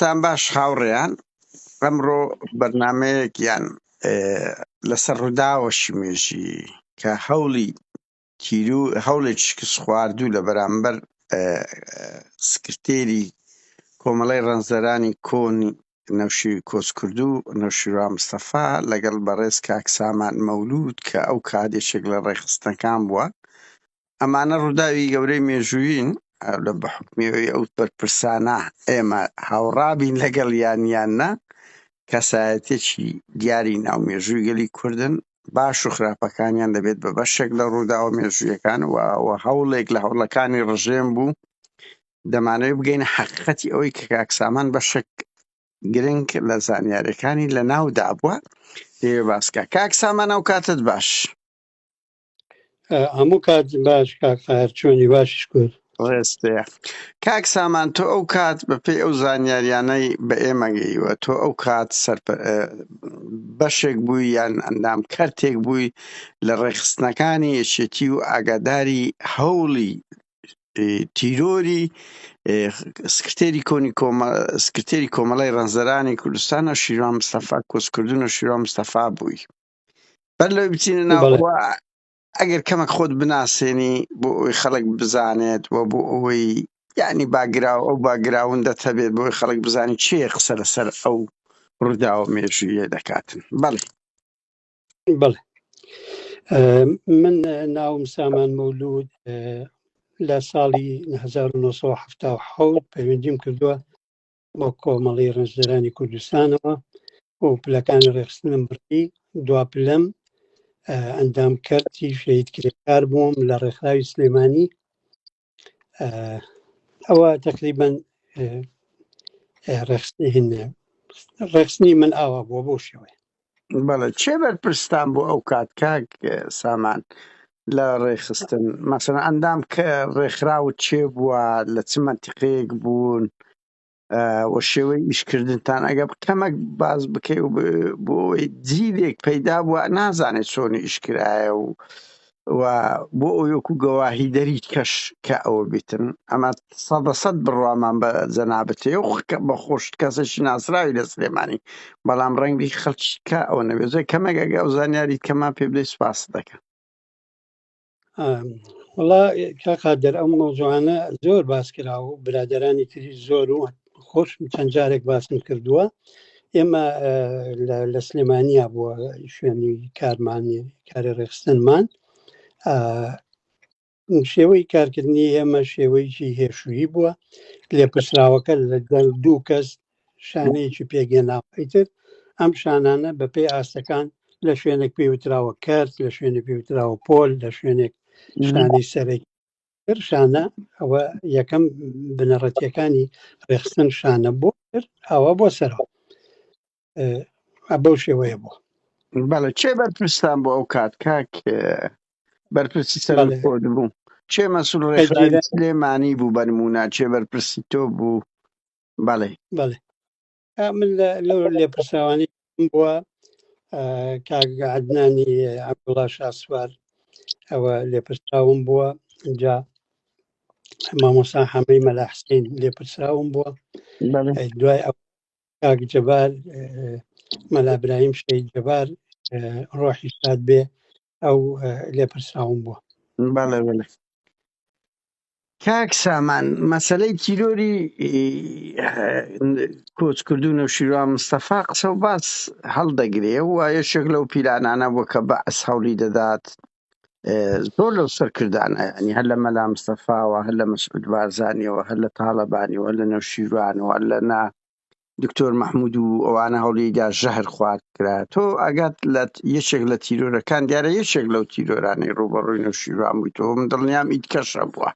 تان باش خاوڕێیان ئەمڕۆ بەرنمەیەکیان لەسەر ڕووداوە شمێژی کە هەوڵی تیرو هەوڵێک شکست خواردوو لە بەرامبەر سکرتێری کۆمەڵی ڕەنزەرانی کۆن نەوشی کۆچکردو نەوشیرا مستەفا لەگەڵ بەڕێز کاک سامان مەولود کە ئەو کادێشێک لە ڕێخستنەکان بووە ئەمانە ڕووداوی گەورەی مێژوویین لە بەحکمیەوەی ئەو بەرپرسانە ئێمە هاوڕابین لەگەڵ یانیان نە کەسایەتێکی دیاری ناو مێژووی گەلی کوردن باش و خراپەکانیان دەبێت بە بەشێک لە ڕووداوە مێژوویەکان و هەوڵێک لە هەوڵەکانی ڕژێم بوو دەمانەوەی بگەین حقیقەتی ئەوەی کە کاکسامان بەشێک گرنگ لە زانیارەکانی لە ناودا بووە دەوێ باسکە کاک سامانە و کاتت باش هەموو کات باش کاکتار چۆنی باشش کرد ڕێستەیە کاک سامان تۆ ئەو کات بەپی ئەو زانیاریانەی بە ئێمەگەیوە تۆ ئەو کات سەر بەشێک بووی یان ئەندام کەرتێک بووی لە ڕێخستنەکانی یەکێتی و ئاگاداری هەوڵی تیرۆری سکرتێری کۆنی سکرتێری کۆمەڵی ڕەنزەرانی کوردستان و شیران مستەفا کۆچکردن و شیران مستەفا بووی بەر لەوەی بچینە ناو بەڵێ. ئەوە ئەگەر کەمێک خۆت بناسێنی بۆ ئەوی خەڵک بزانێت و بۆ ئەوەی یعنی باگراو ئەو باگراوندەت هەبێت بۆی خەڵک بزانین چێ قسە لەسەر ئەو ڕووداوە مێژوویە دەکاتن بەڵێ بەڵێ ئە، من ئە، ناوم سامان مەولود ئە، لە ساڵی 1970 پەیوەندیم کردووە بۆ کۆمەڵی ڕنجدەرانی کوردستانەوە بۆ پلەکانی ڕێخستنم بڕی دوا پلەم ئەندام کردی شەید کرێکار بووم لە ڕێکخراوی سلێمانی ئەوە تقریبان ڕێخستنی هێنێ ڕێخستنی من ئاوا بووە بۆ شێوەیە بەڵێ چێ بەرپرستان بۆ ئەو کات کاک سامان لە ڕێخستن مەسەن ئەندام کە ڕێکخراوت چێ بووە لە چ منتیقەیەک بوون وە شێوەی ئیشکردنتان ئەگە کەمەک باز بکەی و بۆی جیلێک پەیدا بووە نازانێت چۆنی ئیشکرایە و و بۆ ئەوەی وەکو گەواهیدەری کەش کە ئەوە بیتن ئەمە سەدە سەد بڕوامان بە جەنابت هەیە و بە خۆشت کەسێکی ناسراوی لە سلێمانی بەڵام ڕەنگی خەڵکی کا ئەوە نەبێزۆی کەمێک ئەگە ئەو زانیاری کەمان پێ بدەی سپاست دەکەن وڵا کاقادر ئەو مەوزوعانە زۆر باس کرا و برادرانی تری زۆر و خۆش چەند جارێک باسم کردووە ئێمە لە سلێمانیا بووە شوێنی کارمانی کاری ڕێخستنمان شێوەی کارکردنی ئێمە شێوەیەکی هێشویی بووە لێپرسراوەکە لە گەڵ دوو کەس شانەیەکی پێگەناوتر ئەم شانانە بەپێی ئاستەکان لە شوێنێک پێوتراوە کەرت لە شوێنە پێوتراوە پۆل لە شوێنێک شانەی سەرەکی شانە ئەوە یەکەم بنەڕەتیەکانی ڕێخستن شانە بۆ ئەوە بۆ سەرەوە بەو شێوەیە بۆ بەڵێ چێ بەرپرستان بۆ ئەو کات کاک بەرپرسی سەر خۆت بوو چێ مەسول ڕێخرانی سلێمانی بوو بەرمونە چێ بەرپرسی تۆ بوو بەڵێ بەڵێ من لەو لێپرسراوانی بووە کاگەعدنانی عبدڵا شاسوار ئەوە لێپرسراوم بووە جا مامۆسا حەمەی مەلاحسین لێپرسراوم بووە دوای ئەو کاک جەبار مەلابراهیم شەید جەبار ڕۆحی شاد بێ ئەو لێپرسراون بووە کاک سامان مەسلەی تیرۆری کۆچکردو نەوشیروان مستەفا قسە و باس هەڵدەگرێ و یەشێک لەو پیلانانە بۆ کە بە ئەس هەوڵی دەدات زۆر لەو سەرکردانە ینی هەر لە مەلا مستەفاوە هەر لە مەسعود بارزانانیەوە هەر لە تاالبانیەوە لە نەوشیروانەوە لە نا دکتۆر مححمود و ئەوانە هەوڵیدا ژەهر خوارد کرا تۆ ئەگات لە یەکێک لە تیرۆرەکان دیارە یەکێک لەو تیرۆرانەی ڕوبەڕووی نەوشیروان بووی تۆ من دڵنیام ئیت کەشە بووە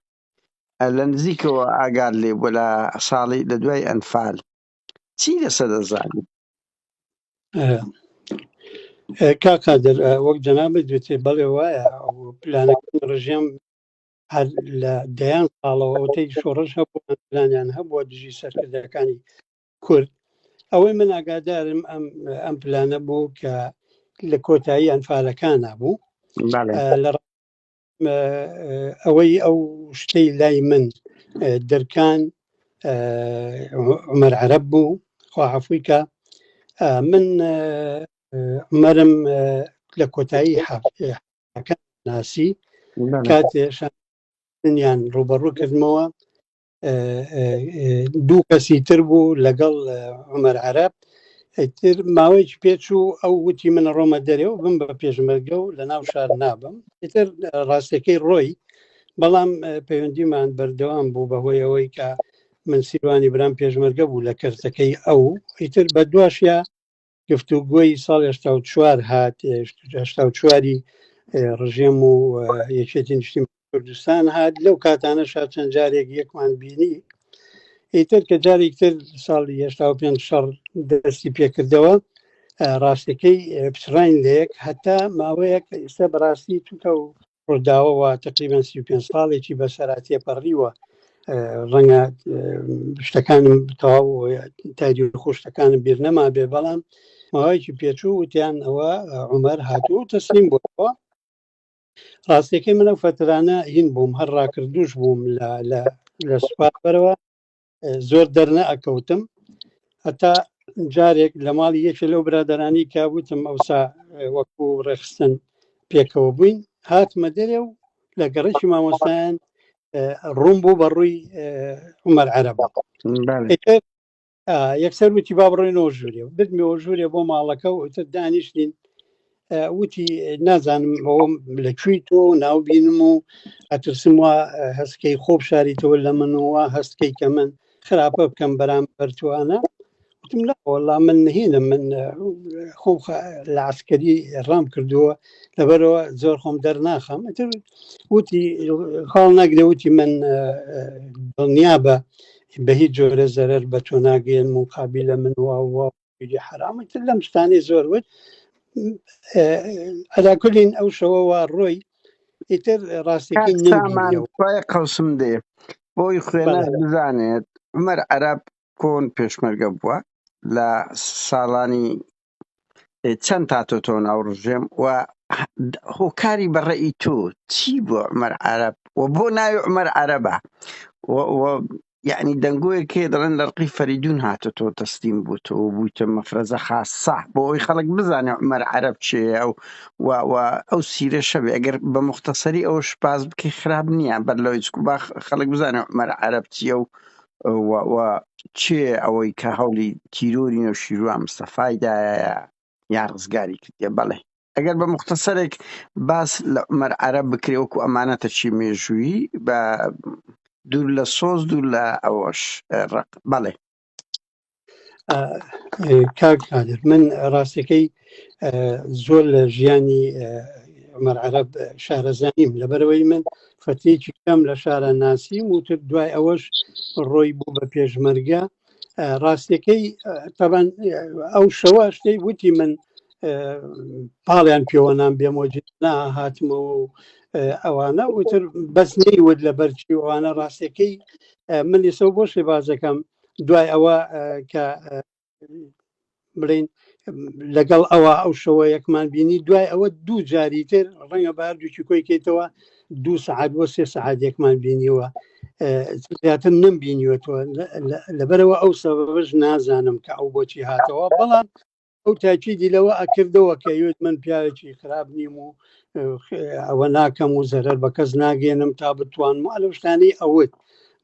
لە نزیکەوە ئاگار لێ بووە لە ساڵی لە دوای ئەنفال چی لەسە دەزانی کاکادر وەک جەنابەت دوێتێ بەڵێ وایە پلانەکە ڕژێم هەر لە دەیان ساڵەوە ئەوتەی شۆڕش هەبوویان هەبووە دژی سەرکردەکانی کورد ئەوەی من ئاگادارم ئەم ئەم پلانە بوو کە لە کۆتایی ئەنفالەکانە بوو لە ئەوەی ئەو شتەی لای من درکان عمر عرب بوو خواحفویکە من عمرم لە کۆتایی ئەکە ناسی کاتێشان یان ڕوبەڕوو کردمەوە دوو کەسی تر بوو لەگەڵ عمر عرب تر ماوەیەکی پێچوو ئەو وتی من ڕۆمە دەرێ و بم بە پێشمەرگە و لە ناو شار نابم تر ڕاستەکەی ڕۆی بەڵام پەیوەندیمان بەردەوام بوو بەهۆی ئەوەی کە من سیروانی برام پێشمەرگە بوو لە کەرتەکەی ئەو ئیتر بە دواشە گفتوگۆی ساڵ هشتا و چوار هات هشتا و چواری ڕژێم و یەکێتی نیشتی کوردستان هات لەو کاتانە شا چەند جارێک یەکمان بینی ئیتر کە جارێک تر ساڵی هشتا و پێنج شەڕ دەستی پێکردەوە ڕاستەکەی پچڕین لەیەک هەتا ماوەیەک ئێستا بەڕاستی توکە و ڕووداوەوە تقریبان سی پێ ساڵێکی بەسەرا تێپەڕیوە ڕەنگە شتەکانم تەواو تادی خۆشتەکانم بیر نەما بێ بەڵام ماوەیەکی پێچوو وتیان ئەوە عمەر هاتوو تەسلیم بۆەوە ڕاستەکەی منە فترانە هین بووم هەر ڕاکردوش بووم لە لە سوپاپەرەوە زۆر دەرنە ئەکەوتم هەتا جارێک لە ماڵی یەکێ لەو برادرانی کە وتم ئەوسا وەکو ڕێخستن پێکەوە بووین هاتمە دەرێ و لە گەڕێکی مامۆستایان ڕوون بوو بە ڕووی عمەر عەرەبا یەکسەر وتی با بڕۆینەوە ژوورێ و بردمەوە ژوورێ بۆ ماڵەکە و ئوتر دانیشتین وتی نازانم ئەوم لە کوێی تۆ ناو بینم و ئەترسم وە هەستکەی خۆب شاریتەوە لە من و هەستکەی کە من خراپە بکەم بەرام بەرتوانە وتم لە وەڵا من نهێنە من خۆم لە عسکەری ڕام کردووە لەبەرەوە زۆر خۆم دەرناخەم وتی خاڵ ناگرێ وتی من دڵنیا بە بە هیچ جۆرە زەرەر بە تۆ ناگەێن مقابلە من وە ویدیو حرامە تر لەم شتانەی زۆر وت ئەداکولین ئەو شەوە وا ڕۆی ئیتر ڕاستەکەی نمانخوای قەسم دێ بۆی خوێنە بزانێت عمەر عەرب کۆن پێشمەرگە بووە لە ساڵانی چەند تاتۆ تۆن ئەو ڕژێم و هۆکاری بەڕێی تۆ چی بۆ عمەر عەرب و بۆ ناوی عمەر عەرەبە یەعنی دەنگۆیەک هەیە دەڵێن لە ڕقی فەریدوون هاتۆتۆ تەسلیم بووتەوە و بوویتە مەفرەزە خاسە بۆ ئەوەی خەڵک بزانێ عومەر عەرەب چێیە و و و ئەو سیرەشە بێ ئەگەر بە موختەسەری ئەوەش باس بکەی خراپ نییە بەر لەوەی چکو با خەڵک بزانێ عومەر عەرەب چییە و و و چێ ئەوەی کە هەوڵی تیرۆری نەوشیروان مستەفای دایە یان ڕزگاری کردیە بەڵێ ئەگەر بە مختصەرێک باس لە عمەر عەرەب بکرێ وەکو ئەمانەتە چی مێژووی بە دوور لە سۆز دوور لە ئەوەش ڕق بەڵێ کاک قادر من ڕاستەکەی زۆر لە ژیانی عمەر عەرەب شارەزانیم لەبەرەوەی من فەتێکی کەم لە شارە ناسیم وتر دوای ئەوەش ڕۆی بوو بە پێشمەرگە ڕاستەکەی تەبان ئەو شەوە شتەی وتی من پاڵیان پێوەنان بێمۆجد نا هاتمەوە و ئەوانە وتر بەس نەیوت لە بەرچی ئەوانە ڕاستەکەی من ئێسە بۆ شێبازەکەم دوای ئەوە کە بڵین لەگەڵ ئەوە ئەو شەوە یەکمان بینی دوای ئەوە دوو جاری تر ڕەنگە باردووکی کۆی کەیتەوە دوو سعات بۆ سێ سعات یەکمان بینیوە زیاتر نم بینیوەتەوە لەبەرەوە ئەو سەبەش نازانم کە ئەو بۆچی هاتەوە بەڵام ئەو تاکیدی لەوە ئەکردەوە کە یوت من پیاوێکی خراپ نیم و ئەوە ناکەم و زەرەر بە کەس ناگەێنم تا بتوانم ئەلوشتانی ئەوت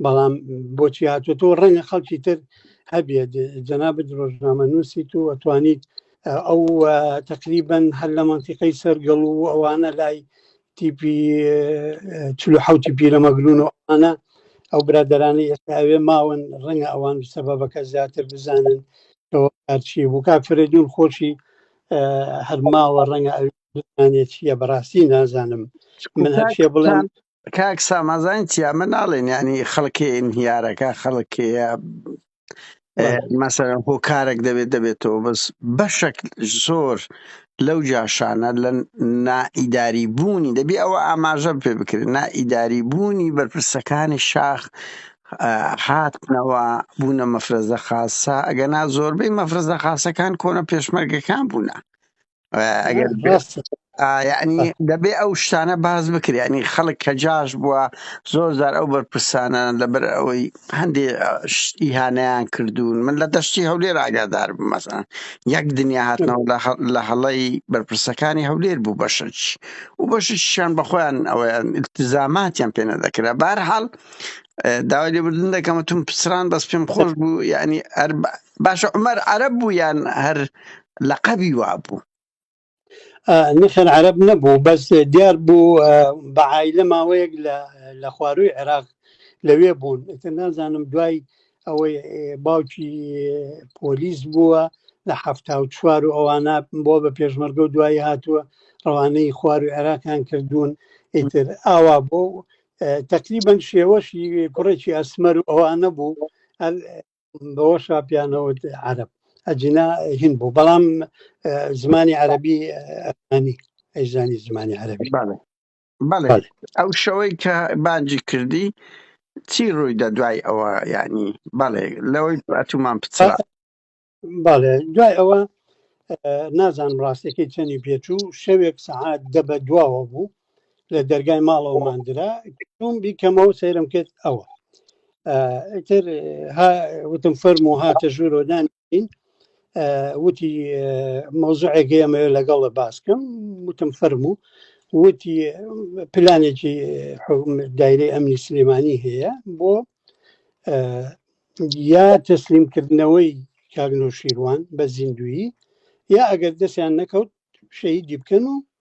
بەڵام بۆچی هاتووە تۆ ڕەنگە خەڵکی تر هەبێت جەنابەت ڕۆژنامە نووسیت و ئەتوانیت ئەو تقریبن هەر لە منتیقەی سەرگەڵ و ئەوانە لای تیپی چلو حوتی پیرەمەگرون و ئەوانە ئەو برادرانی ئێستا ئەوێ ماون ڕەنگە ئەوان سەبەبەکە زیاتر بزانن چی بوو کا فرەدون خۆشی هەرماوە ڕەنگە ئەوێت چیە بەڕاستی نازانم من هەرشێ بڵێن کاک ساما زانیت چی ئەمە ناڵێن یانی خەڵکێ انهیارەکە خەڵکێیە مەسەرەن هۆکارێک دەبێت دەبێتەوە بەس بەشێک زۆر لەو جاشانە لە نائیداری بوونی دەبێ ئەوە ئاماژە پێ بکرێت نائیداری بوونی بەرپرسەکانی شاخ هاتنەوە بوونە مەفرەزە خاصە ئەگەنا زۆربەی مەفرەزە خاصەکان کۆنە پێشمەرگەکان بوونە ئەگەر یعنی دەبێ ئەو شتانە باز بکرێنی خەڵک کە جاش بووە زۆر زار ئەو بەرپرسانە لەبەر ئەوەی هەندێ شتی هانیان کردوون من لە دەشتی هەولێر ئاگادار بمەسان یەک دنیا هاتنەوە لە هەڵی بەرپرسەکانی هەولێر بوو بەشەچ و بەشیان بەخۆیان ئەویان التزاماتیان پێ نەدەکرا بارحاڵ داوای لێبوردن دەکەمە تون پسران بەس پێم خۆش بوو یعنی باشە عومەر عەرەب بوو یان هەر لەقەبی وابوو؟ ئا نەخێر عەرەب نەبوو بەس دیار بوو بە عایلە ماوەیەک لە لە خوارووی عێراق لەوێ بوون ئیتر نازانم دوای ئەوەی ئێ، باوکی ئێ، پۆلیس بووە لە حەفتا و چوار و ئەوانە بۆ بە پێشمەرگە و دوایی هاتووە ڕەوانەی خواروی عێراقیان کردوون ئیتر ئاوا بۆ تقریبا شێوەشی کوڕێکی ئەسمەر و ئەوانە بوو هەر بەوە شاپیانەوت عرب ئەجینا هین بوو بەڵام زمانی عەربی ئەنی ئەیزانی زمانی عەربی ئەو شەوەی کە بانجی کردی چی ڕوویدا دوای ئەوە ینی بەڵێ لەوەی ئەتومان پچڕ بەڵێ دوای ئەوە نازانم ڕاستەکەی چەنی پێچوو شەوێک سەعات دە بە دواوە بوو لە دەرگای ماڵەوە مادرا چوم بیکەمەوە سەیرم کرد ئەوە تر وتم فەرم و هاتە ژوورۆدان وتی مۆزعێکی ئەمە لەگەڵە باسکەم وتم فەرم و وتی پلانێکی دایرەی ئەمنی سلێمانی هەیە بۆ یا تەسلیمکردنەوەی کاگنۆ شیروان بە زیندویی یا ئەگەر دەستیان نەکەوت شەیدی بکەن و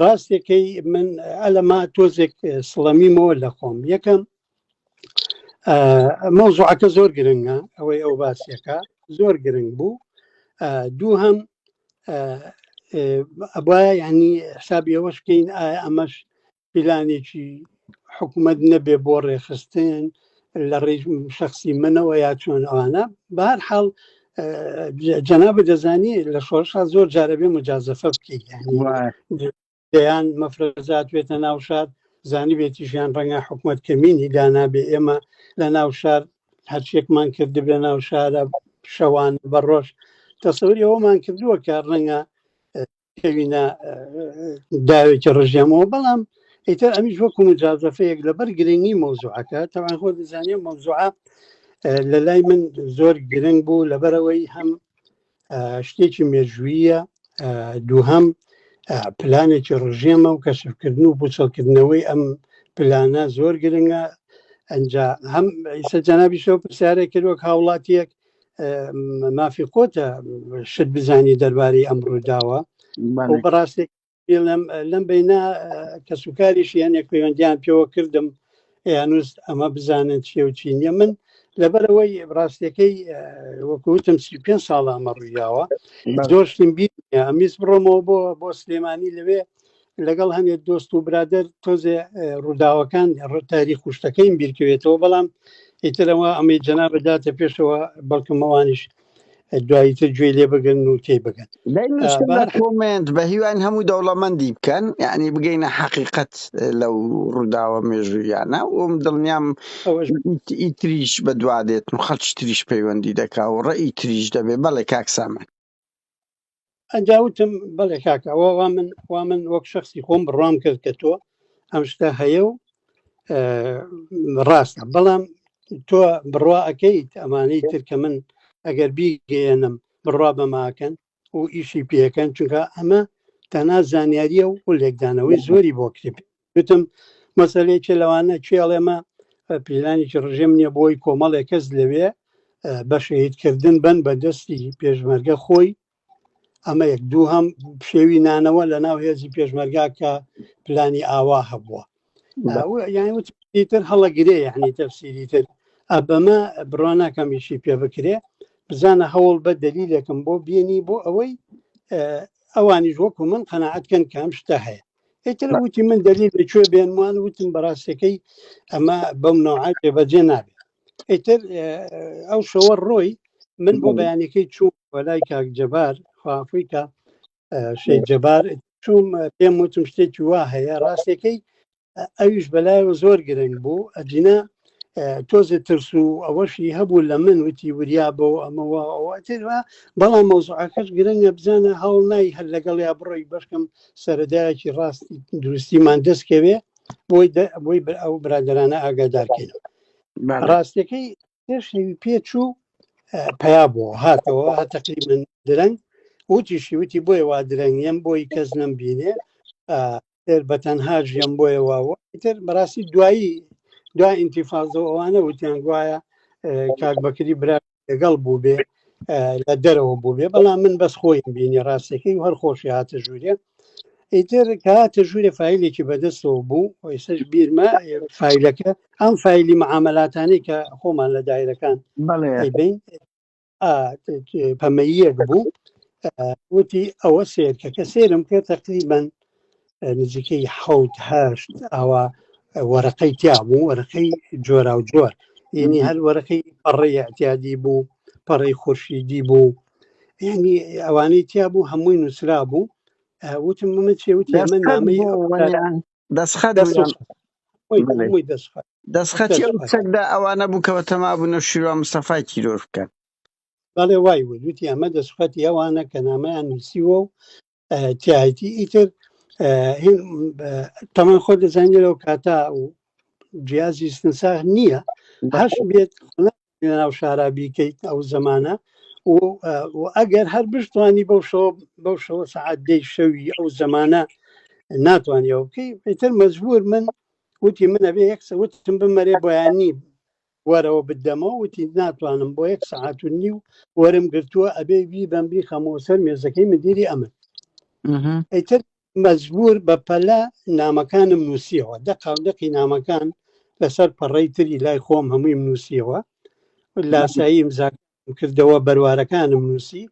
ڕاستێکەی من ئەلەما تۆزێک سڵەمیمەوە لە خۆم یەکەم مەوزوعەکە زۆر گرنگە ئەوەی ئەو باسیەکە زۆر گرنگ بوو دوو هەم ئەبە ینی حسابی ئەوەش بکەین ئایا ئەمەش پیلانێکی حکومەت نەبێ بۆ ڕێخستن لە ڕێ شخصی منەوە یا چۆن ئەوانە بار حاڵ جەناب دەزانی لە شۆرشا زۆر جارە بێ مجازفە بکەیت دەیان مەفرەزات بێتە ناو شار زانی بێتی ژیان ڕەنگە حکومت کەمینی دانابێ ئێمە لە ناو شار هەرچێکمان کرد بە ناو شارە شەوان بە ڕۆژ تەسەوری ئەومان کردووە کە ڕەنگە کەوینە داوێکی ڕژێمەوە بەڵام ئیتر ئەمیش وەکو مجازەفەیەک لەبەر گرنگی مۆزوعەکە تەوان خۆ دەزانێ مۆزوعە لە لای من زۆر گرنگ بوو لەبەرەوەی هەم شتێکی مێژویە دووهم پلانێکی ڕژێمە و کەشفکردن و بچەڵکردنەوەی ئەم پلانە زۆر گرنگە ئەجا هەم ئیسە جەنابیشەوە پرسیارێک کردوەک هاوڵاتیەک مافی خۆتە شت بزانی دەربارەی ئەم ڕووداوە بەڕاستی بڵم لەم بینا کەسوکاریش یانێک پەیوەندیان پێوە کردم یانوس ئەمە بزانن چیە و چینە من لەبەرەوەی ڕاستەکەی وەکوتم سی پێ ساڵە ئەمە ڕوویاوە زۆر شتم بی ئەمیز بڕۆمەوە بۆ بۆ سلێمانی لەوێ لەگەڵ هەنێ دۆست و برادر تۆزێ ڕووداوەکان تاریخ خوشتەکەیم بیرکەوێتەوە بەڵام ئیترەوە ئەمەی جەنا بداتە پێشەوە بەڵکمەوانیش دواییتر گوێ لێ بگرن و تێ بگەن کۆمنت بە هیوان هەموو دەوڵەمەندی بکەن یعنی بگەینە حقیقت لەو ڕووداوە مێژوویانە ئەوم دڵنیام ئیتریش بەدوادێت و خەچ تریش پەیوەندی دەکا و ڕێی تریش دەبێ بەڵێ کاکسامە ئەجاوتم بەڵێ کاکەوە وا من وا من وەک شخصی خۆم بڕام کرد کە تۆ ئەم شتە هەیە و ڕاستە بەڵام تۆ بڕوا ئەەکەیت ئەمانەی تر کە من ئەگەر بیگەێنم بڕوا بەماکەن و ئیشی پێەکەن چونکە ئەمە تەنا زانیاریە و لێکدانەوەی زۆری بۆ کتێب گوتم مەسەلەیەکێ لەوانە کێ ئەڵێمە پیلانێکی ڕژێم نییە بۆی کۆمەڵێک کەس لەوێ بە شەهیدکردن بن بە دەستی پێشمەرگە خۆی ئەمە یەک دوو هەم پشێوی نانەوە لە ناو هێزی پێشمەرگا کە پلانی ئاوا هەبووە یان وتر هەڵەگرێ یعنی تەفسیری تر ئەبەمە بڕواناکەمیشی پێ بکرێ بزانە هەوڵ بە دەلیلەکەم بۆ بینی بۆ ئەوەی ئەوانیش وەکو من قەنەعاتکەن کەم شتە هەیە ئیتر وتی من دەلیل لە کوێ بێنمان وتم بەڕاستەکەی ئەمە بەم نەوعات بێبەجێ نابێت ئیتر ئەو شەوە ڕۆی من بۆ بەیانەکەی چوو وەلای کاک جەبار خوافیکە شەی جەبار چوم پێم وتم شتێکی وا هەیە ڕاستەکەی ئەویش بەلایەوە زۆر گرنگ بوو ئەجینا تۆزێ ترس و ئەوەشی هەبوو لە من وتی وریا بۆ ئەمەوە ئەوەتێرا بەڵام مەوزعەکەش گرنگە بزانە هەوڵ نای هەر لەگەڵ یا بڕۆی بەشکم سەردایەکی ڕاست دروستیمان دەستکەوێ بۆی بۆی بەر ئەو برادرانە ئاگادارکەین ڕاستەکەی پێشەوی پێچوو پیا بۆ هاتەوە هەتەقی من درەنگ وتیشی وتی بۆی وا درەنگیم بۆی کەس نەم بینێ تر بە تەنها ژیان بۆیە واوە تر بەڕاستی دوایی دو ئینتیفازە ئەوانە وتیان گوایە کاک بەکری برا لەگەڵ بوو بێ لە دەرەوە بوو بێ بەڵام من بەس خۆی بینی ڕاستەکەی هەر خۆشی هاتە ژوورێ ئیتر کە هاتە ژوورێ فیلێکی بەدەستەوە بوو ئێسش بیرمە فیلەکە ئەم فیلی معاملاتانی کە خۆمان لە دایرەکان بڵێ بین پەمەییەک بوو وتی ئەوە سێرکەکە سێرم کرد تقریبان نزیکەی حوت هەشت ئاوا وەرەقەی تیا بوو وەرەقەی جۆرا و جۆر یعنی هەر وەرەقەی پەڕی احتیادی بوو پەڕی خورشیدی بوو ینی ئەوانەی تیا بوو هەمووی نووسرا بوو وتم من چێوتی من نامی دەسخەت دەست بوویان خۆش خۆی بە بەێ عموی دەست خۆش دەسخەتی دەست ئەو خۆش چەکدا ئەوانە بوو کەەوە تەما بوو نە شیروان مستەفای تیرۆر بکەن بەڵێ وای وت وتی ئەمە دەسخەتی ئەوانە کە نامەیان نووسیوە و اه، تایتی ئیتر اه، هین اه، تەمان خۆ دەزانێت لەو کاتا و جیازی سنساغ نییە هەش بەخۆ بێت لەناو شارا بیکەیت ئەو زمانە و ئەگەر هەر بشتوانی بەو شەوە بەو شەوە سعات دەی شەوی ئەو زمانە ناتوانانی ئەو بکەی پێتر مەجبور من وتی منە بێ یەک وتم بمەرێ بۆیانی وەرەوە بدەمەوە وتی ناتوانم بۆ یەک سعات و نیو وەرم گرتووە ئەبێ بی بەمبی خەمەوە سەر مێزەکەی مدیری ئەمن ئەیتر مەجبوور بە پەلە نامەکانم نووسیەوە دەقاو دەقی نامەکان لەسەر پەڕەی تری لای خۆم هەموویم نووسیەوە لاسایی ئیمزا کردەوە بەروارەکانم نووسی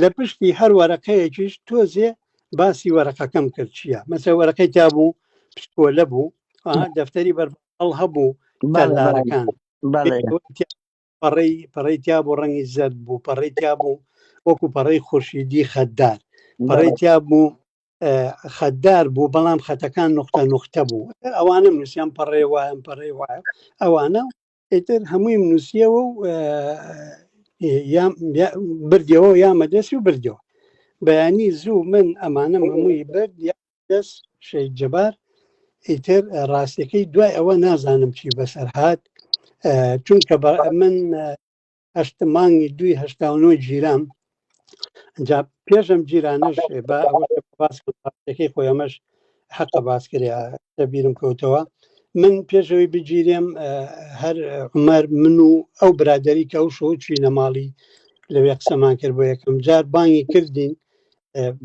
لە پشتی هەر وەرەقەیەکیش تۆزێ باسی وەرەقەکەم کرد چییە مەسە وەرەقەی تا بوو پشکۆلە بوو ئا، دەفتەری بەربڵ هەبوو بەڵێ بەڵێ تەلارەکان بەڵێ پەڕەی پەڕەی تیا بوو ڕەنگی زەرد بوو پەڕەی تیا بوو وەکو پەڕەی خورشیدی خەددار پەڕەی تیا بوو خەددار بوو بەڵام خەتەکان نقطە نقطە بوو ئەوانم نووسیان پەڕێ وایم پەڕێ وایە ئەوانە ئیتر هەمووی نووسیەوە و بردەوە یامە دەست و بردەوە بەیانی زوو من ئەمانە هەمووی برد بەس شەید جەبار ئیتر ڕاستەکەی دوای ئەوە نازانم چی بەسەر هاات چونکە بە من هەشت مانگی دوی هشتا نۆ گیرام جا پێشم جیرانش بە باسەکەی خۆی ئەمەش حقە باسکریا دەبیرم کەوتەوە من پێشەوەی بگیرێم هەر عمەر من و ئەو برادری کە ئەو شۆ چوینە ماڵی لەوێ قسەمان کرد بۆ یەکەم جار بانگی کردین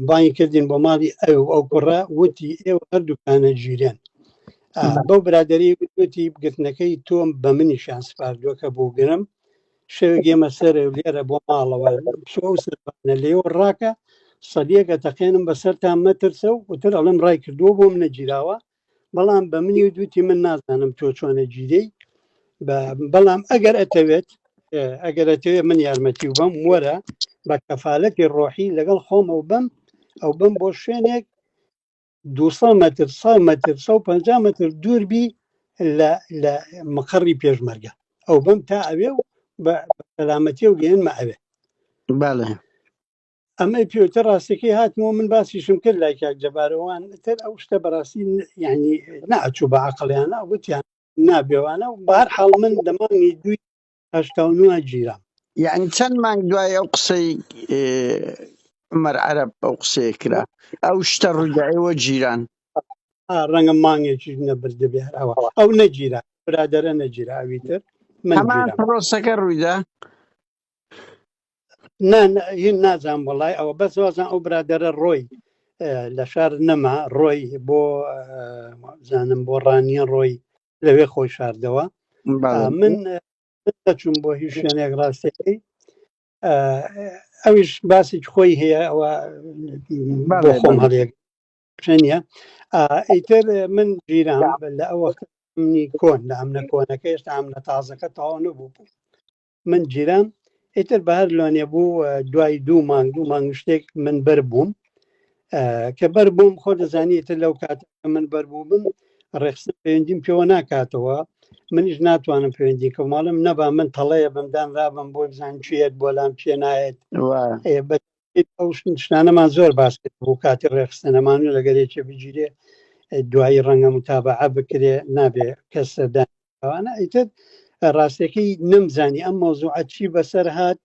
بانگی کردین بۆ ماڵی ئەو ئەو کوڕە وتی ئێوە هەردووکانە ژیرێن بەو برادری وتی بگرتنەکەی تۆم بە منی شان سپاردووە کە بۆ گرم شەوێک ئێمە سەر لێرە بۆ ماڵەوە سەرانە لێوە ڕاکە سەدیەکە تەقێنم بەسەرتان مەترسە و وتر ئەڵم ڕای کردووە بۆم نەگیراوە بەڵام بە منی و دوتی من نازانم تۆ چۆنە گیرەی بەڵام ئەگەر ئەتەوێت ئەگەر ئەتەوێت من یارمەتی و بەم وەرە بە کەفاالەتی ڕۆحی لەگەڵ خۆمە و بم ئەو بم بۆ شوێنێک 200 متر 100 متر 150 متر دوور بی لە مقڕی پێشمەرگە ئەو بم تا ئەوێ و بە سەلامەتی و گەێنمە ئەوێ ئەمەی پێوتە ڕاستەکەی هاتمەوە من باسیشم کرد لای کاک جەبارەوان تر ئەو شتە بەڕاستی یعنی ناچوو بە عقلیانە وتیان نابێوانە و بار حاڵ من دەمانی دوی هشتا نوە گیرام یعنی چەند مانگ دوای ئەو قسەی عمر عرب ئەو قسەیە کرا ئەو شتە ڕووداەوە جیران ڕەنگە مانگێکی نەبردە بێ ئەوە ئەو نەگیرا برادرە نەگیرا ئەوی تر من هەمان پرۆسەکە ڕوویدا هین نازان وڵای ئەوە بەس وازان ئەو برادرە ڕۆی لە شار نەما ڕۆی بۆ زانم بۆ ڕانیە ڕۆی لەوێ خۆی شاردەوە من چون بۆ هیچ شوێنێک ڕاستەکەی ئەویش باسی خۆی هەیە ئەوە بۆ خۆم هەڵێک شەنە ئیتر من گیران لە ئەوە منی کۆن لە ئەمنە کۆنەکە هێشتا ئەمنە تازەکە تاوا نەبوو بوو من گیرام ئیتر بە هەر لۆنێ بوو دوای دوو مانگ دوو مانگ شتێک من بەر بووم کە بەر بووم خۆ دەزانیت لەو کات من بەر بوو بم ڕێخستن پەیوەندیم پێوە ناکاتەوە منیش ناتوانم پەیوەندی کە ماڵم نەبا من تەڵەیە بەمدان رابم بۆ بزان چێت بۆ لام چێ نایەت ئەو شتانەمان زۆر باس کرد بۆ کاتی ڕێخستە نەمانوو لەگەر یەکێ بگیرێ دوایی ڕەنگە متابعە بکرێ نابێ کەس سەردانوانە ئیتر ڕاستەکەی نەمزانی ئەم مۆزوعە چی بەسەر هاات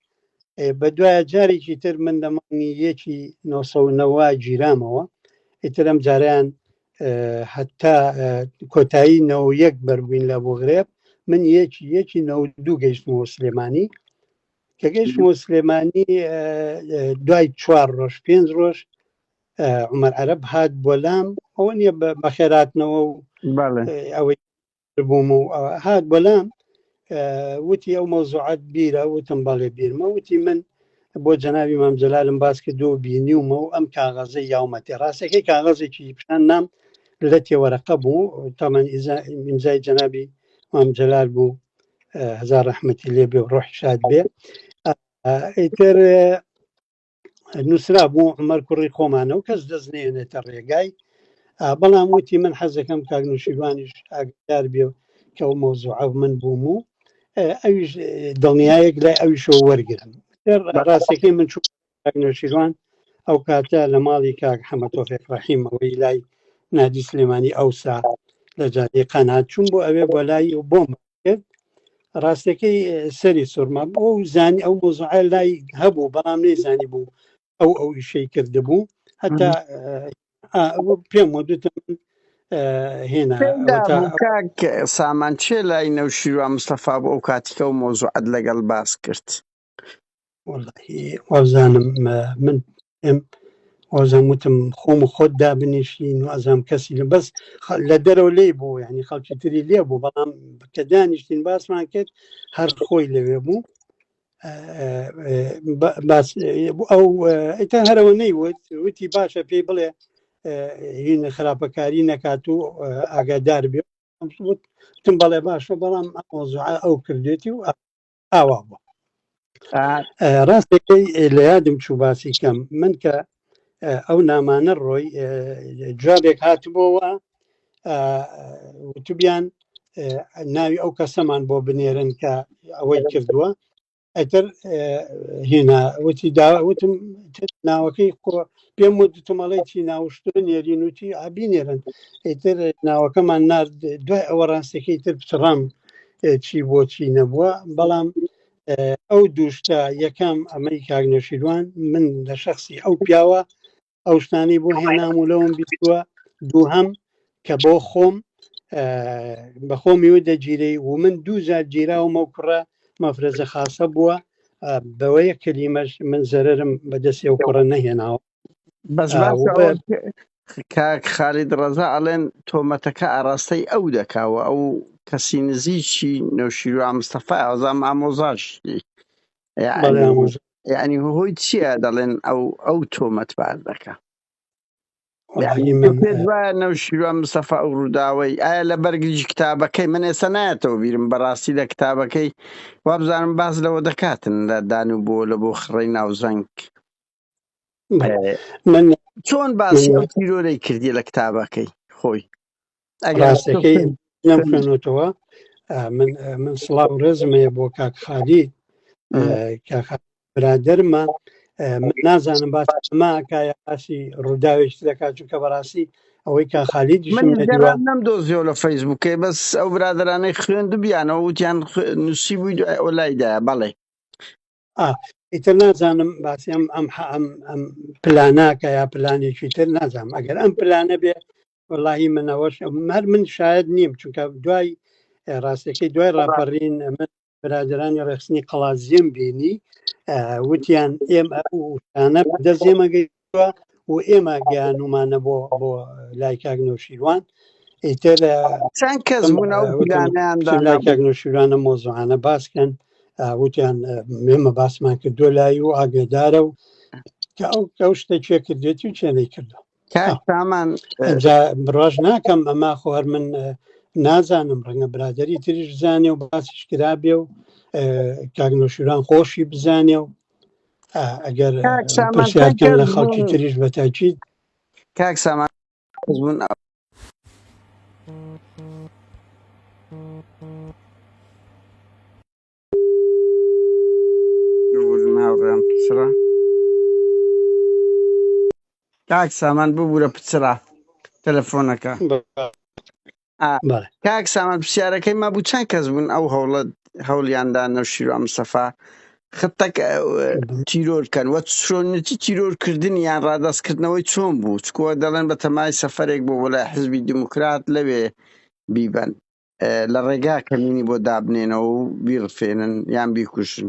بە دوایە جارێکی تر من دەمانی یەکی 1990 گیرامەوە ئیترم جاریان حتا کۆتایی نەوە یەک بەربووین لە بۆ غرێب من یەکی یەکی نەوە دوو گەیشتمەوە سلێمانی کە گەیشتمەوە سلێمانی دوای چوار ڕۆژ پێنج ڕۆژ عمر عەرب هات بۆ لام ئەوە نییە بە خێراتنەوە و ئەوەی بووم و هات بۆ لام وتی ئەو مەوزوعات بیرە وتم بەڵێ بیرمە وتی من بۆ جەناوی مام جەلالم باس کردو و بینیومە و ئەم کاغەزە یاومەتی ڕاستەکەی کاغەزێکی پیشان نام لە تێوەرەقە بوو تامان ئیمزای جەنابی مام جەلال بوو هزار ڕحمەتی لێ بێ ڕۆحی شاد بێ ئیتر نووسرا بوو عمەر کوڕی خۆمانە و کەس دەست نێنێتە ڕێگای بەڵام وتی من حەزەکەم کاک نووسیروانیش ئاگدار بێ کە و مەوزوع ئەو من بووم و ئەویش دڵنیایەک لای ئەویشەوە وەرگرم ڕاستەکەی من چوو کاک نەوشیروان ئەو کاتە لە ماڵی کاک حەمە تۆفێک ڕەحیم ئەوەی لای نادی سلێمانی ئەوسا لە جادەی قەنات چوون بۆ ئەوێ بۆ لای و بۆم کرد ڕاستەکەی سەری سوورما بۆ و زانی ئەو مۆزعە لای هەبوو بەڵام نەیزانی بوو ئەو ئەو ئیشەی کردبوو هەتا پێم وەدوتم هێنا سامان چێ لای نەوشیروان مستەفا بۆ ئەو کاتیکە و مۆزوعات لەگەڵ باس کرد وازانم من ئەم وازم وتم خۆم و خۆت دابنیشین و ئازام کەسی لە بەس لە دەرەوە لی بوو یعنی خەڵکی تری لێ بوو بەڵام کە دانیشتین باسمان کرد هەر خۆی لەوێ بوو باس ئەو ئەیتان هەرەوە نەیوت وتی باشە پێی بڵێ هین خراپەکاری نەکات و ئاگادار بێت تم بەڵێ باشە بەڵام ئەو کردێتی و ئاوا بووە ڕاستەکەی لە یادم چوو باسی کەم من کە ئەو نامانە ڕۆی جوابێک هاتبووەوە وتبیان ناوی ئەو کەسەمان بۆ بنێرن کە ئەوەی کردووە ئەتر هێنا وتی داوتم ناوەکەی خۆ پێم وتمەڵی چی ناوشتن نێرین وتی ئابینێرن ئیتر ناوەکەمان نرد دوای ئەوە ڕاستەکەی تر پچڕام چی بۆچی نەبووە بەڵام ئەو دووشتە یەکەم ئەمەی کاک نەشیروان من لە شخصی ئەو پیاوە ئەو شتانی بۆ هێنام و لەوم بیوە دوو هەم کە بۆ خۆم بەخۆمی و دەگیری و من دوو جار گیراومە و کوڕە مەفرەزە خاصە بووە بەوەیە کەلیمەش من زەرم بەدەسێ و کوڕە نەهێناوە بەس باسە ئەوە وڵێ کاک خالید ڕەزا ئەڵێن تۆمەتەکە ئاراستەی ئەو دەکاوە ئەو کەسی نزیکی نەوشیروان مستەفا ئەزام ئامۆزاشی بەڵێ یعنی ئامۆژ یعنی هۆی چییە دەڵێن ئەو ئەو تۆمەت باز دەکا یعنی وەڵاهی تۆ من پێت وایە نەوشیروان مستەفا ئەو ڕووداوەی ئایا لە بەرگریی کتابەکەی من ئێستا نایەتەوە بیرم بەڕاستی لە کتابەکەی وابزانم باز لەوە دەکاتن لە دان و بۆ لە بۆ خڕەی ناوزەنگ من چۆن باسی ئەو تیرۆرەی کردی لە کتابەکەی خۆی ئەگەرەکەی نەمخێنەوە من من سڵاو ڕێزمەیە بۆ کاک خالی برادرمە من نازانم باس ئەماکایە باسی ڕووداوێک دەکات چونکە بەڕاستی ئەوەی کا خالی نەم دۆزیۆ لە فەیسبووکەی بەس ئەو برادرانەی خوێن دوبیانەوە وتیان نووسی بووی دوای ئەو لایدا بەڵێ ئیتر نازانم باسی ئەم ئەم ئەم ئەم پلاناکە یا پلانێکی تر نازانم ئەگەر ئەم پلانە بێ وڵی منەوەش هەر من شاید نیم چونکە دوای ڕاستەکەی دوای ڕاپەڕین من برادرانی ڕێخستنی قەڵازیم بینی وتیان ئێمە ئەوانە دەزێمەگەی و ئێمە گەیانومانە بۆ بۆ لای کاک نوشیروان ئیتر چەند کەس بوون ئەو پلانیاندا لای نەبوو. کاک نوشیروانە مۆزوعانە باسکەن وتیان مێمە باسمان کردو لای و ئاگدارە و کە ئەو ئەو شتە چێ کردێتی و چێنەی کردو کاک سامان جا بڕاش ناکەم ئەما خۆ هەر من اه، نازانم ڕەنگە برادری تریش زانێ و باسیش کرابێ و اه، کاک نوشیروان خۆشی بزانێ و ئەگەر پرسیارکەم لە خەڵکی تریش بە تاکیید کاک سامان هاوڕێم پچڕە کاک سامان ببوورە پچڕە تەلەفۆنەکە کاک سامان پرسیارەکەی ما بوو چەند کەس بوون ئەو هەوڵە هەوڵیاندا نەوشیرو ئەم سەفا خطەک تیرۆر کەن وە چۆنەتی تیرۆر کردنی یان ڕادستکردنەوەی چۆن بوو چکووە دەڵێن بە تەمای سەفرێک بۆ وەلای حزبی دیموکرات لەوێ بیبەن لە ڕێگا کەمینی بۆ دابنێنەوە و بیڕفێنن یان بیکوژن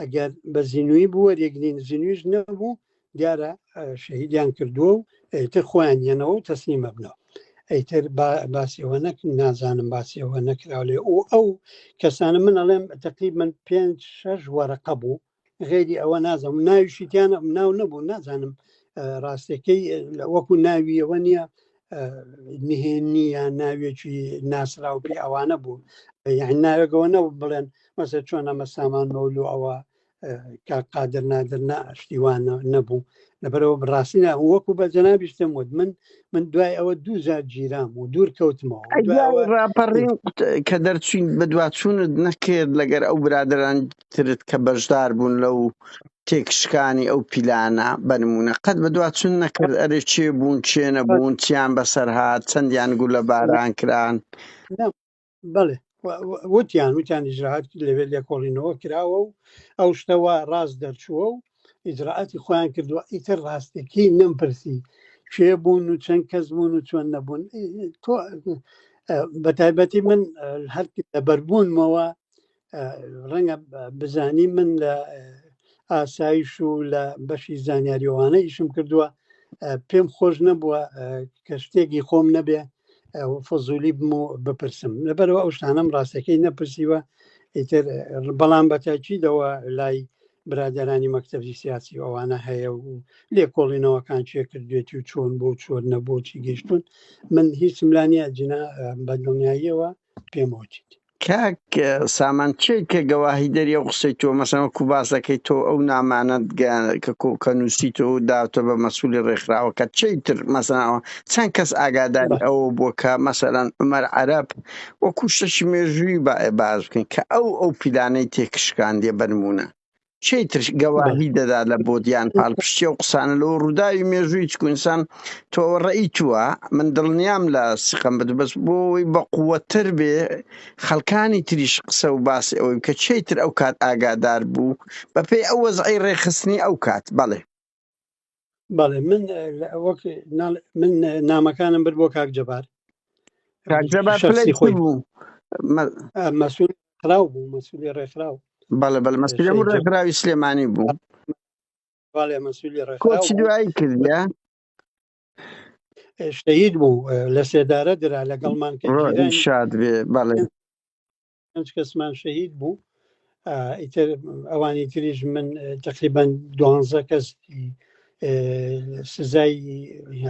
ئەگەر بە زینوی بوو وەریگرین زینویش نەبوو دیارە شەهیدیان کردووە و ئەیتر خۆیان یەنەوە و تەسلیمە بنەوە ئەیتر باسیەوە نەک نازانم باسیەوە نەکراو لێ و ئەو کەسانە من ئەڵێم تقریب من پێ شەش وەرەقە بوو غێری ئەوە نازم ناویشیتیانە ناو نەبوو نازانم ڕاستەکەی وەکو ناویەوە نییە نهێنی یا ناوێکی ناسراو پێ ئەوانە بوو یان ناوێکەوە نە بڵێن مەسە چۆن ئەمە سامان مەولو ئەوە قادر نادر نە شتیوانە نەبوو لەبەرەوە بڕاستینە وەکو بە جەنابیشتم وت من من دوای ئەوە دووجار گیرام و دوور کەوتمەوە ڕاپەڕین کە دەرچوین بە دوواچوونت نەکرد لەگەر ئەو برادران ترت کە بەشدار بوون لەو تێکشکانی ئەو پیلانە بە نمونە قەت بە دوا چون نەکرد ئەرێ چێ بوون چێ نەبوون چیان بەسەر هاات چەندیان گولە باران کران بڵێ وتیان وتیان ئیجرراعات لەوێ لێکۆڵینەوە کراوە و ئەو شتەوە ڕاست دەرچووە و ئیجرراعاتی خۆیان کردووە ئیتر ڕاستەکەی نەمپرسی کێ بوون و چەند کەس بوون و چۆن نەبوون تۆ بە تایبەتی من هەر لە بەربوونمەوە ڕەنگە بزانی من لە ئاسایش و لە بەشی زانیاریەوانە ئیشم کردووە پێم خۆش نەبووە کە شتێکی خۆم نەبێ فزولی بم و بپرسم لەبەرەوە ئەو شتانم ڕاستەکەی نەپرسیوە ئیتر بەڵام بەتاکیدەوە لای برادرانی مەکتەبی سیاسی ئەوانە هەیە و لێکۆڵینەوەکان چێ کردێتی و چۆن بۆ چۆن نەبۆچی گەشتون من هیچم لانە جنا بە دڵنیاییەوە پێم وچیت کاک سامان کێی کە گەواهی دەری ئەو قسەی تۆ مەسەن وەکو باس دەکەی تۆ ئەو نامانەت کە کۆکە نووسی تۆ داوتە بە مەسولی ڕێکخراوەکە چی تر مەسەنەوە چەند کەس ئاگاداری ئەوە بووە کە مەسەرەن عمەر عەرب وەکو شتەکی مێژووی باێ باز بکەین کە ئەو ئەو پیلانەی تێکشکاندیە بەرمونە چی تر گەواهی دەدا لە بۆدیان پاڵپشتی و قسانە لەەوە ڕووداوی مێژووی چکونسان تۆوە ڕێی تووە من دڵنیام لە سیقم بت بەس بۆی بە قووەتر بێ خەڵکانی تریش قسە و باسی ئەوەی کە چی تر ئەو کات ئاگادار بوو بەپێی ئەو وەزعی ڕێخستنی ئەو کات بەڵێ بەڵێ من وەک من نامەکانم بر بۆ کاک جەبار مەسول خراو بوو مەسولی ڕێکخراو بەڵێ بەڵ مەسولی بوو ڕێکخراوی سلێمانی بوو بەڵێ مەسولی ڕێکخراوی دوایی کردە شەید بوو لە سێدارە درا لەگەڵمان شاد بێ بەڵێ پێنج کەسمان شەهید بوو ئیتر ئەوانی تریش من تقریبان دوانزە کەس سزای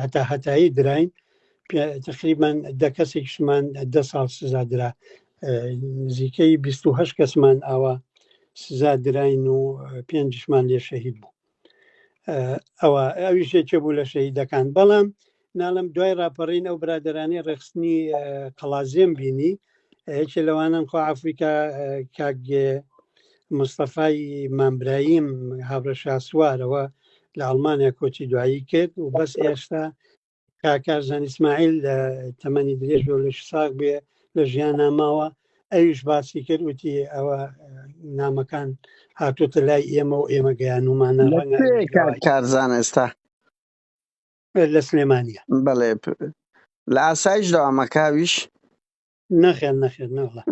هەتا هەتایی دراین تقریبان دە کەسێکشمان دە ساڵ سزا درا نزیکەی 28 کەسمان ئاوا سزا دراین و پێنجشمان لێ شەهید بوو ئەوە ئەویش یەکێ بوو لە شەهیدەکان بەڵام ناڵم دوای ڕاپەڕین ئەو برادرانی ڕێخستنی قەڵازیێم بینی یەکێ لەوانم خۆ ئەفریقا کاک مستەفای مامبرایم هاوڕە شاسوارەوە لە ئەڵمانیا کۆچی دوایی کرد و بەس ئێستا کاکارزان ئیسماعیل لە تەمەنی درێژ و لەش ساق بێ لە ژیان ناماوە ئەویش باسی کرد وتی ئەوە نامەکان هاتوتە لای ئێمە و ئێمە گەیانومانە کارزان ئێستا لە سلێمانە بەڵێ لە ئاسایش داوامەکاویش نەخێن نەخێن نەڵە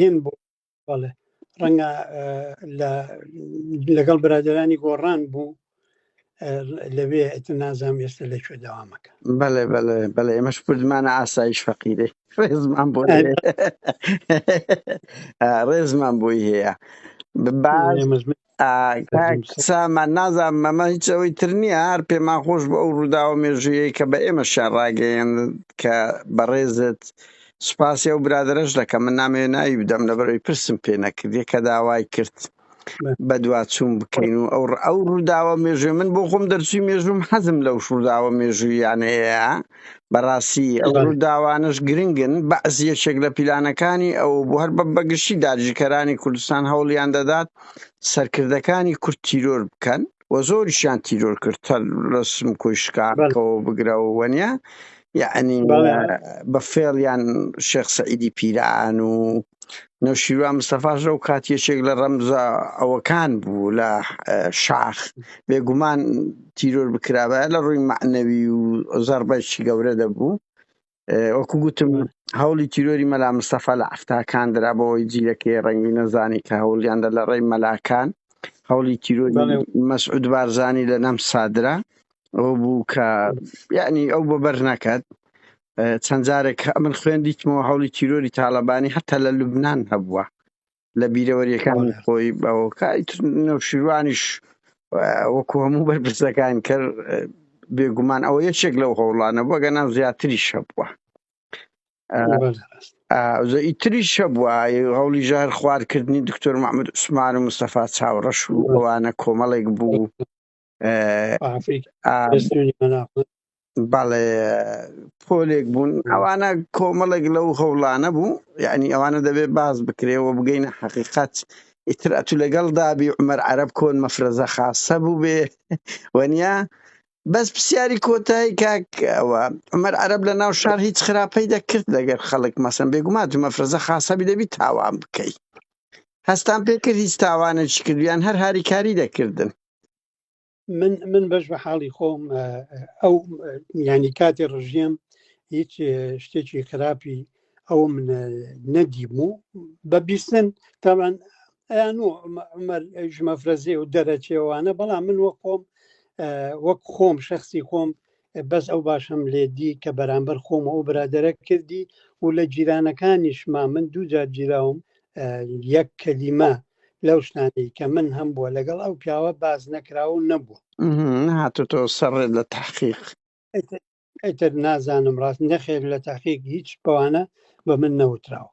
هێن بوو بەڵێ ڕەنگە لەگەڵ برادرانی گۆڕان بوو لەوێ نازام ئێستا لە کوێ داوامەکە بەڵێ بەڵێ بەڵێ ئێمەش کوردمانە ئاسایش فەقیرێ ڕێزمان بۆ ڕێزمان بۆی هەیە سامان نازان مەمە هیچ ئەوەی تر نییە هەر پێمان خۆش بۆ ئەو ڕووداوە مێژوویەی کە بە ئێمە شار ڕاگەیەن کە بەڕێزت سوپاسی ئەو برادرەش دەکەم من نامێ ناوی بدەم لە بەرەوەی پرسم پێ نەکردی کە داوای کرد بە دواچوون بکەین و ئەو ئەو ڕووداوە مێژوێ من بۆ خۆم دەرچوی مێژوم حەزم لەو شورداوە مێژوویانەیە بەڕاستی ئەو ڕووداوانەش گرنگن بەعز یەکێک لە پیلانەکانی ئەو بۆ هەر بە بەگشتی داگیرکەرانی کوردستان هەوڵیان دەدات سەرکردەکانی کورد تیرۆر بکەن و زۆریشیان تیرۆر کرد هەر ڕسم کۆی شکاکەوە بگرەوە وەنیە یعنی بە فێڵیان شێخ سەعیدی پیران و نەوشیروان مستەفاش لەو کات یەکێک لە ڕەمزە ئەوەکان بوو لە شاخ بێگومان تیرۆر بکرابا لە ڕووی معنەوی و زەربەشی گەورە دەبوو وەکو گوتم هەوڵی تیرۆری مەلا مستەفا لە ئەفتاکان درا بۆی جیلەکەی ڕەنگی نەزانی کە هەوڵیاندا لە ڕێی مەلاکان هەوڵی تیرۆری مەسعود بارزانی لە نەم سادرا ئەو بوو کە یعنی ئەو بۆ بەر نەکات چەند جارێک من خوێندیتمەوە هەوڵی تیرۆری تاالبانی هەتا لە لوبناان هەبووە لە بیرەوەریەکانی خۆی بەەوە نەوشیروانیش وەکو هەموو بەرپرسەکان کە بێگومان ئەوە یەکێک لەو هەوڵانە بەگەنا زیاتری شەبووە ئیتری شەبووە هەوڵی ژار خوارکردنی دکتۆر محمد عوسمان و مستەفا چاوڕەش و ئەوانە کۆمەڵێک بوو بەڵێ پۆلێک بوون ئەوانە کۆمەڵێک لەو هەوڵانە بوو یعنی ئەوانە دەبێت باز بکرێەوە بگەینە حقیقت ئیتر ئەتو لەگەڵ دابی عمەر عرب کۆن مەفرەزە خاصە بوو بێ وەنیا بەس پرسیاری کۆتایی کاک ئەوە عمەر عرب لە ناو شار هیچ خراپەی دەکرد لەگەر خەڵک مەسم بێگومات مەفرەزە خاصەبی دەبی تاوان بکەیت هەستان پێکرد هیچ تاوانێکی کردویان هەر هاریکاری دەکردن من من بەش بە حاڵی خۆم ئەو ینی کاتی ڕژیم هیچ شتێکی خراپی ئەو من نەدیم و بە بیستن تاوان ئەیان و عمەر ژمەفرەزێ و دەرەچێوانە بەڵام من وە خۆم وەک خۆم شخصی خۆم بەس ئەو باشم لێ دی کە بەرامبەر خۆم ئەو برادرە کردی و لە جیرانەکانیشما من دوو جار جیراوم یەک کەلیمە لەو شتانەی کە من هەم بووە لەگەڵ ئەو پیاوە باز نەکراوە و نەبووە هاتوتۆ سەڕێت لە تحقیق ئەتر نازانم ڕاست نەخێر لە تاقیق هیچ بەوانە بە من نەوتراوە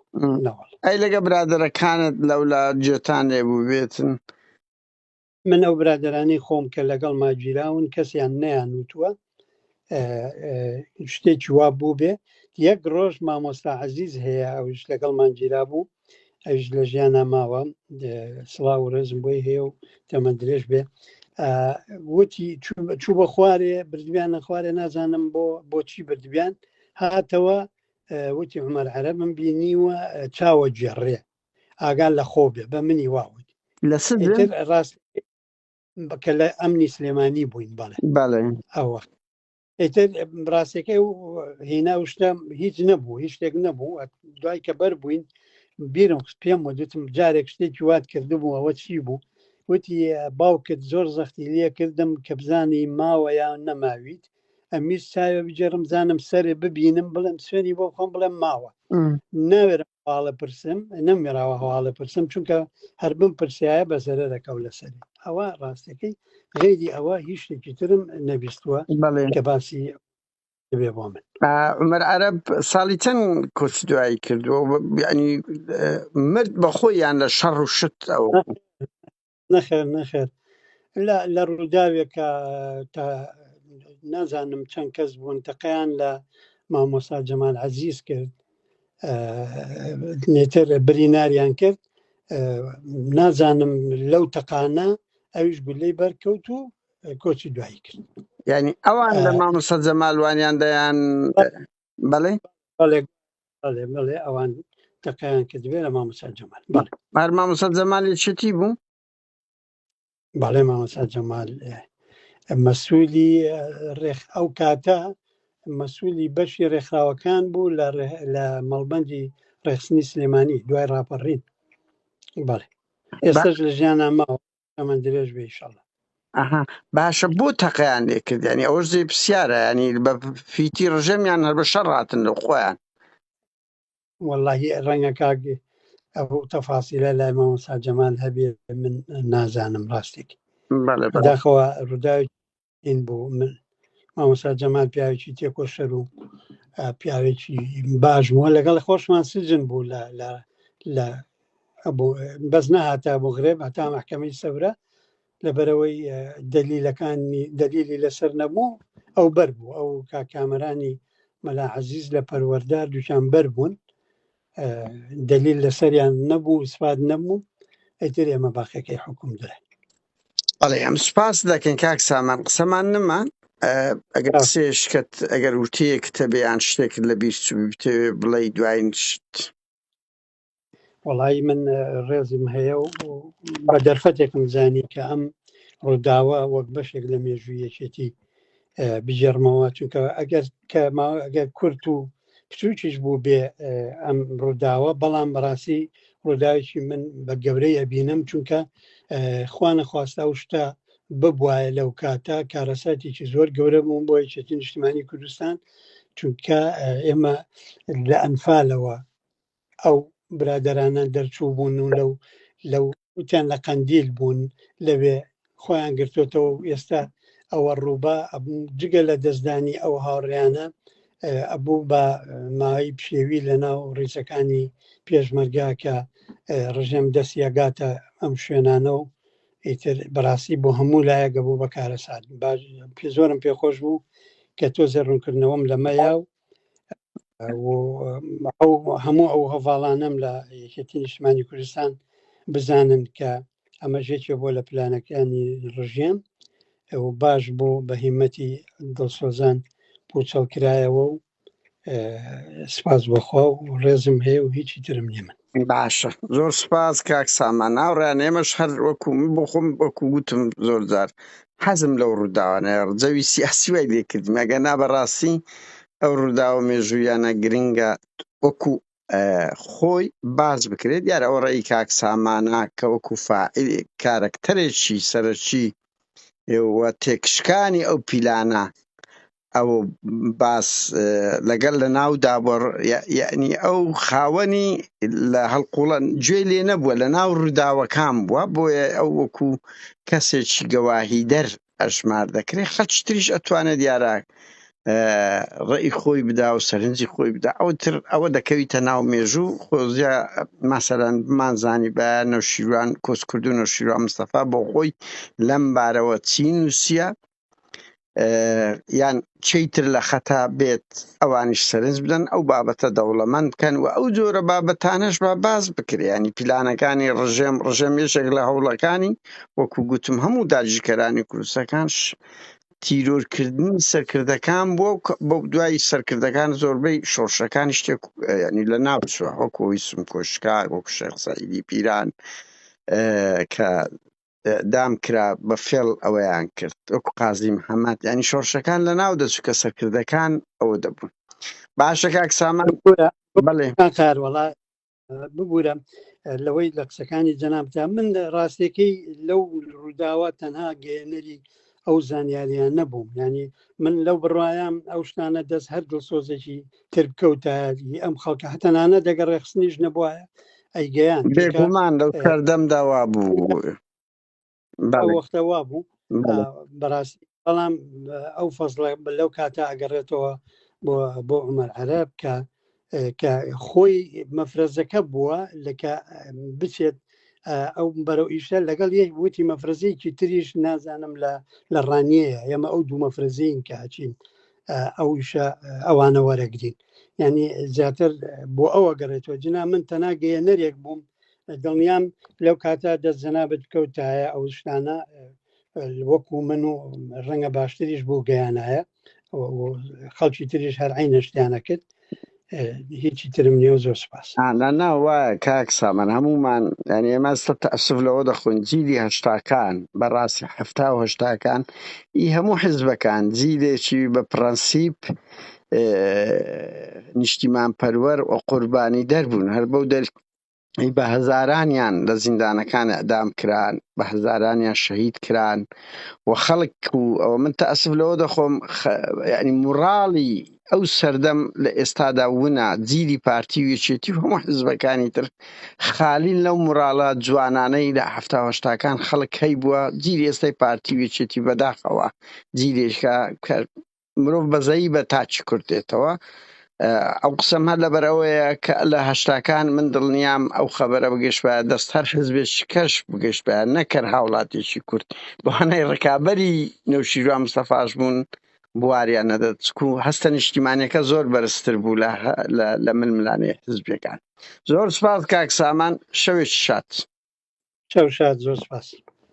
ئەی لەگە برادەرەکانت لەولا جێتان لێ بوو بێتن من ئەو برادرانەی خۆم کە لەگەڵ ماگیراون کەسیان نیان وتووە شتێکی وا بوو بێ یەک ڕۆژ مامۆستا عزیز هەیە ئەوش لەگەڵ ماگیرا بوو ئەوش لە ژیانە ماوە سڵا و ڕێزم بۆی هەیە و تەمە درێژ بێ وتی چوو بە خوارێ بردویانە خوارێ نازانم بۆ بۆچی بردویان هاتەوە وتی عمەر عەرە من بینیوە چاوە گێڕێ ئاگا لە خۆو بێ بە منی وا وت لە سزم ئیتر ڕاست بە کە لە ئەمنی سلێمانی بووین بەڵێ بەڵێ ئەو وەخت ئیتر ڕاستەکەی و هینا و شتە هیچ نەبوو هیچ شتێک نەبوو ئەت- دوای کە بەر بووین بیرم خست پێم وەدوتم جارێک شتێکی وات کردبوو ئەوە چی بوو وتی باوکت زۆر زەختی لێ کردم کە بزانی ماوە یان نەماویت ئەمیش چاوێ بگێڕم زانم سەرێ ببینم بڵێم سوێنی بۆ بخۆم بڵێم ماوە م. ناوێرم هەواڵە پرسم نەمێراوە هەواڵە پرسم چونکە هەر بم پرسیایە بە زەرە دەکەو لەسەر ئەوە ڕاستەکەی غێری ئەوە هیچ شتێکی ترم نەبیستوە کە باسی بێ بۆ من عمر عرب ساڵی چەند کۆچ دوایی کردووە ینی مرد بەخۆی یان لە شەڕ و شت ئەو نەخێر نەخێر لە ڕووداوێکە تا نازانم چەند کەس بوون تەقیان لە مامۆسا جەمال عزیز کرد نێتر بریناریان کرد نازانم لەو تەقانە ئەویش گولەی بەرکەوت و کۆچی دوایی کرد ینی ئەوان لە مامۆسا جەمالوانیان دەیان بەڵێ بەڵێ بەڵێ بەڵێ ئەوان تەقیان کردبێ لە مامۆسا جەمال بەڵێ هەر مامۆسا جەمالی چتی بوو بەڵێ مامۆسا جەمال اه، مەسوولی اه، ڕێک ئەو کاتە مەسوولی بەشی ڕێکخراوەکان بوو لە ڕێ- لە مەڵبەندی ڕێخستنی سلێمانی دوای ڕاپەڕین بەڵێ ئێستش لە ژیانە ماوە تەمەن درێژ بێ ئیشەڵا ئەها باشە بۆ تەقیان لێ کردیانی ئەوە زێ پرسیارە ینی بە فیتی ڕژەمیان هەر بە شەڕ هاتن لە خۆیان واللهی ڕەنگە کاک ئەو تەفاسیلە لای مامۆستا جەمال هەبێ من نازانم ڕاستێک بەڵێ بەڵێ بەداخەوە ڕووداوێکی این بۆ من مامۆسا جەمال پیاوێکی تێکۆشەر و پیاوێکی باش بووە لەگەڵ خۆشمان سجن بوو لە لە بەس نەهاتا بۆ غرێب هەتا محکەمەی سەورە لەبەرەوەی دەلیلەکانی دەلیلی لەسەر نەبوو ئەو بەر بوو ئەو کاکامەرانی مەلا عزیز لە پەروەەردا دوچان بەر بوون دەلیل لەسەریان نەبوو سپاد نەبوو ئەتر ئێمە باقەکەی حکوم درا ئەڵێ ئەم سوپاس دەکەین کاک سامان قسەمان نما ئەگەر سێشکت ئەگەر وتەیەک تەبیان شتێکت لە بیست بتەوێ بڵێ دوایین شت وڵی من ڕێزم هەیە و بە دەرفەتێکم زانی کە ئەم ڕووداوە وەک بەشێک لە مێژوویەکێتی بگێڕمەوە چونکە ئەگەر کە ئەگەر کورت و بچووکیش بوو بێ ئەم ڕووداوە بەڵام بەڕاستی ڕووداوێکی من بە گەورەی ئەبینم چونکە خوانە خواستە و شتە ببواە لەو کاتە کارەساتێکی زۆر گەورە بووم بۆ یەکێتی نیشتمانی کوردستان چونکە ئێمە لە ئەنفالەوە ئەو برادەرانە دەرچوو بوون و لەو لەو وتیان لە قەندیل بوون لەوێ خۆیان گرتوتەوە و ئێستا ئەوە ڕووبا جگە لە دەستدانی ئەو هاوڕیانە ئەبوو بە ماوەی پشێوی لە ناو ڕیزەکانی پێشمەرگا کە ڕژێم دەستیەگاتە ئەم شوێنانە و ئیتر بەڕاستی بۆ هەموو لایەگە بوو بە کارەسات زۆرم پێخۆش بوو کە تۆزێ ڕوونکردنەوەم لەمەیا و هەموو ئەو هەڤاڵانم لە یەکێتی نیشتمانی کوردستان بزانن کە ئەمە ژێکێ بۆ لە پلانەکانی ڕژێم باش بۆ بە هیمەتی دڵسۆزان پوچەڵکرایەوە و سپاس بەخوا و ڕێزم هەیە و هیچی ترم نیە من باشە زۆر سپاس کاک سامان هاوڕێیان ئێمەش هەر وەکو من بۆ خۆم وەکو وتم زۆر جار حەزم لەو ڕووداوانەیە ڕجەوی سیاسی وای لێ کردم ئەگەر نا بەڕاستی ئەو ڕووداوە مێژوویانە گرنگە وەکو اه، خۆی باس بکرێت دیار ئەوە ڕێی کاک سامانە کە وەکو فاعل کارەکتەرێکی سەرەکی و تێکشکانی ئەو پیلانە ئەو باس لەگەل لە ناو دابڕ یعنی ئەو خاوەنی لە هەڵقوڵەن گوێ لێ نەبووە لە ناو ڕووداوەکان بووە بۆیە ئەو وەکو کەسێکی گەواهی دەر ئەژمار دەکرێت خەچ تریش ئەتوانێت دیارە ڕێی خۆی بدا و سەرنجی خۆی بدا ئەو تر ئەوە دەکەویتە ناو مێژوو خۆزیە ماسەران بمانزانی بە نەوشیروان کۆسکردو نەوشیروان مستەفا بۆ خۆی لەم بارەوە چین وسیە یان چی تر لە خەتا بێت ئەوانیش سەرنج بدەن ئەو بابەتە دەوڵەمەند بکەن و ئەو جۆرە بابەتانەش بە باز بکریانی پیلانەکانی ڕژێم ڕژێم یەشێک لە هەوڵەکانی وەکو گوتم هەموو داگیرکەرانی کوردستەکانش تیرۆرکردنی سەرکردەکان بۆ بۆ دوای سەرکردەکان زۆربەی شۆڕشەکان شتێک ینی لە ناوچوە وەکۆی سم کۆشکار وەکو شخصی پیران کە دام کرا بە فێڵ ئەوەیان کرد وەکو قازی محەممەد یانی شۆڕشەکان لە ناو دەچوو کە سەرکردەکان ئەوە دەبوون باشە کاک سامان بڵێ کار وڵا ببوورە لەوەی لە قسەکانی جەنابدا من ڕاستەکەی لەو ڕووداوە تەنها گەێنەری ئەو زانیاریان نەبووم یعنی من لەو بڕوایم ئەو شتانە دەست هەر دڵسۆزێکی تر بکەوتایەتی ئەم خەڵکە هەتەنانە دەگە ڕێخستنیش نەبووە ئەیگەیان بێگومان لەو سەردەم داوا بوو وەختەوا بوو بەڕاستی بەڵام ئەو فەزڵە لەو کاتە ئەگەڕێتەوە بۆ بۆ عمەر عەرب کە کە خۆی مەفرەزەکە بووە لەکە بچێت ئەو بەرەو ئیشە لەگەڵ یەک وتی مەفرەزەیەکی تریش نازانم لە لە ڕانیەیە ئێمە ئەو دوو مەفرەزین کە ئەچین ئەوشە ئەوانە وەرەگرین ینی زیاتر بۆ ئەوە گەڕێتەوە جنا من تەناگەیە نەرێک بووم دڵنیام لەو کاتە دەست جەنابەت کەوتایە ئەو شتانە وەکو من و ڕەنگە باشتریش بوو گەیانایە خەڵکی تریش هەر عینەشتیانە کرد هیچی ترم نیە و زۆر سپاس نا وایە کاک سامان هەمومان ینی ئێمە سە تەسف لەوە دەخۆن جیلی هەشتاکان بەڕاستی هەفتا و هەشتاکان ئی هەموو حزبەکان جیلێکی بە پرەنسیپ نیشتیمان پەروەر و قوربانی دەربوون هەر بەو دەر بە هەزارانیان لە زیندانەکان ئەعدام کران بە هەزارانیان شەهید کران و خەڵک و ئەوە من تا ئەسف لەوە دەخۆم ینی موڕاڵی ئەو سەردەم لە ئێستادا ونا جیلی پارتی وێچێتی هەموو حزبەکانی تر خالین لەو موراڵە جوانانەی لە هەفتاهشتاکان خەڵک هەی بووە جیلی ئێستای پارتی وێچێتی بەداخەوە جیلێکە کە مرۆڤ بەزەیی بە تاکی کورد دێتەوە ئەو قسەم هەر لەبەر ئەوەیە کە لە هەشتاکان من دڵنیام ئەو خەبەرە بگەشت بە دەست هەر حزبێش کەش بگەشت بە نەکەر هاوڵاتیشی کورد بەهانای ڕکابەری نەوشیروان مستەفاش بوون بواریان نەدەت و هەستە نیشتیمانەکە زۆر بەرزتر بوو لە من ملانێ حزبەکان زۆر سپاس کاک سامان شەوێکی شات شەو شاد زۆر سپاس